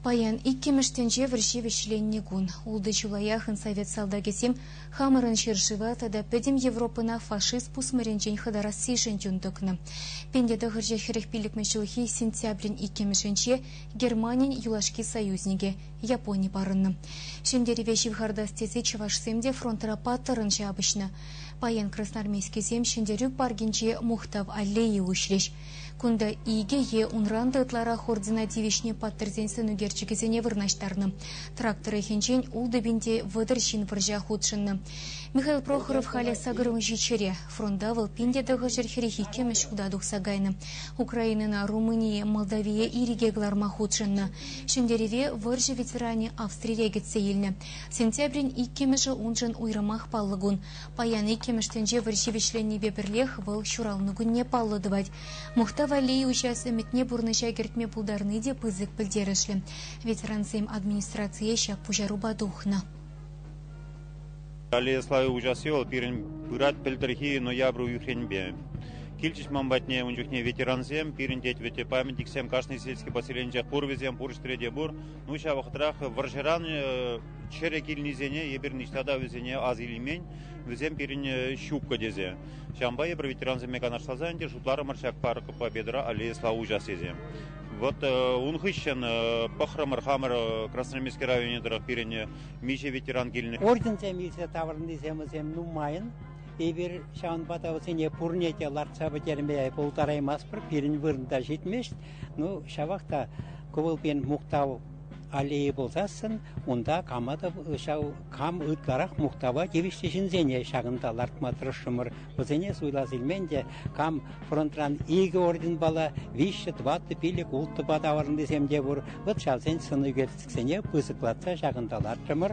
Паян, иккӗмӗш тӗнче вӑрҫи вӗҫленнӗ кун. Ултӑ чылаях совет салтакӗсем хамӑрӑн ҫӗршыва тата пӗтӗм Европӑна фашист пусмӑрӗнчен хӑтарассишӗн юн тӑкнӑ. Пенте тӑхӑрҫӑ хӗрӗх пиллӗкмӗш ҫулхи сентябрӗн иккӗмӗшӗнче Германин юлашки союзникӗ Япони парӑннӑ. Ҫӗнтерӗве ҫывхартас тесе чӑвашсем те фронтра паттӑррӑн ҫапӑҫнӑ. Паян красноармейскисем Ҫӗнтерӳ паркӗнче Мухтав аллейи уҫрӗҫ. Кунта икӗ е унран та ытларах ордена тивӗҫнӗ паттӑрсен сӑнӳкерчӗкӗсене вырнаҫтарнӑ. Трак тӑрӑхӗнчен ултӑпинте вӑтӑр ҫын вӑрҫа хутшӑннӑ. Михаил Прохоров халӗ сакӑр унҫи чӗре. Фронта вӑл пин тӑхӑрҫӗр хӗрӗх иккӗмӗш хута тухса кайнӑ. Украинӑна, Румыние, Молдавие ирӗке кӑларма хутшӑннӑ. Ҫӗнтерӗве вӑрҫӑ ветеранӗ Австрире кӗтсе илнӗ. Сентябрӗн иккӗмӗшӗ уншӑн уйрӑмах паллӑ кун. Паян иккӗмӗш тӗнче вӑрҫи вӗҫленнипе пӗрлех вӑл ҫуралнӑ кунне паллӑ тӑвать. Мухтав аллейи уҫас ӗмӗтне пурнӑҫа кӗртме пултарни те пысӑк пӗлтерӗшлӗ. Ветерансем администрацие ҫак пуҫарупа тухнӑ. Аллея славы уҫасси вӑл пирӗн пырать пӗлтӗрхи ноябрь уйӑхренпе. Килчӗҫ ман патне ун чухне ветерансем, пирӗн тет вӗтте памятниксем кашни сельский поселенче пур вӗсем, пур ҫӗрте те пур. Ну ҫав вӑхӑтрах вӑрҫӑран Чӗрӗ килнисене эпир ниҫта та вӗсене ас илмен, вӗсем пирӗн ҫуккӑ тесе. Ҫавӑнпа эпир ветерансемпе канашласа ӗнтӗ шутларӑмӑр ҫак парк Победра аллея слава участиесе. Вот ун хыҫҫӑн пӑхрӑмӑр хамӑр Красноармейски районӗ тӑрӑх пирӗн миҫе ветеран килнӗ. Орденсем илсе таврӑннисем вӗсем нумайӑн. Эпир ҫавӑнпа та вӗсене пурне те лартса пӗтерме пултараймастпӑр, пирӗн вырӑнта ҫитмест. Ну, ҫавах та кӑвӑлпин мухтав Аллея пулсассӑн унта Каматов ҫав кам ытларах мухтава тивӗҫлӗ ҫынсене ҫакӑнта лартма тӑрӑшрӑмӑр. Вӗсене суйлас илмен те кам фронтран икӗ орденпала, виҫҫӗ, тӑваттӑ, пилӗк, улттӑпа таврӑннисем те пур. Вӑт ҫавсен сӑн ӳкерчӗксене пысӑклатса ҫакӑнта лартрӑмӑр.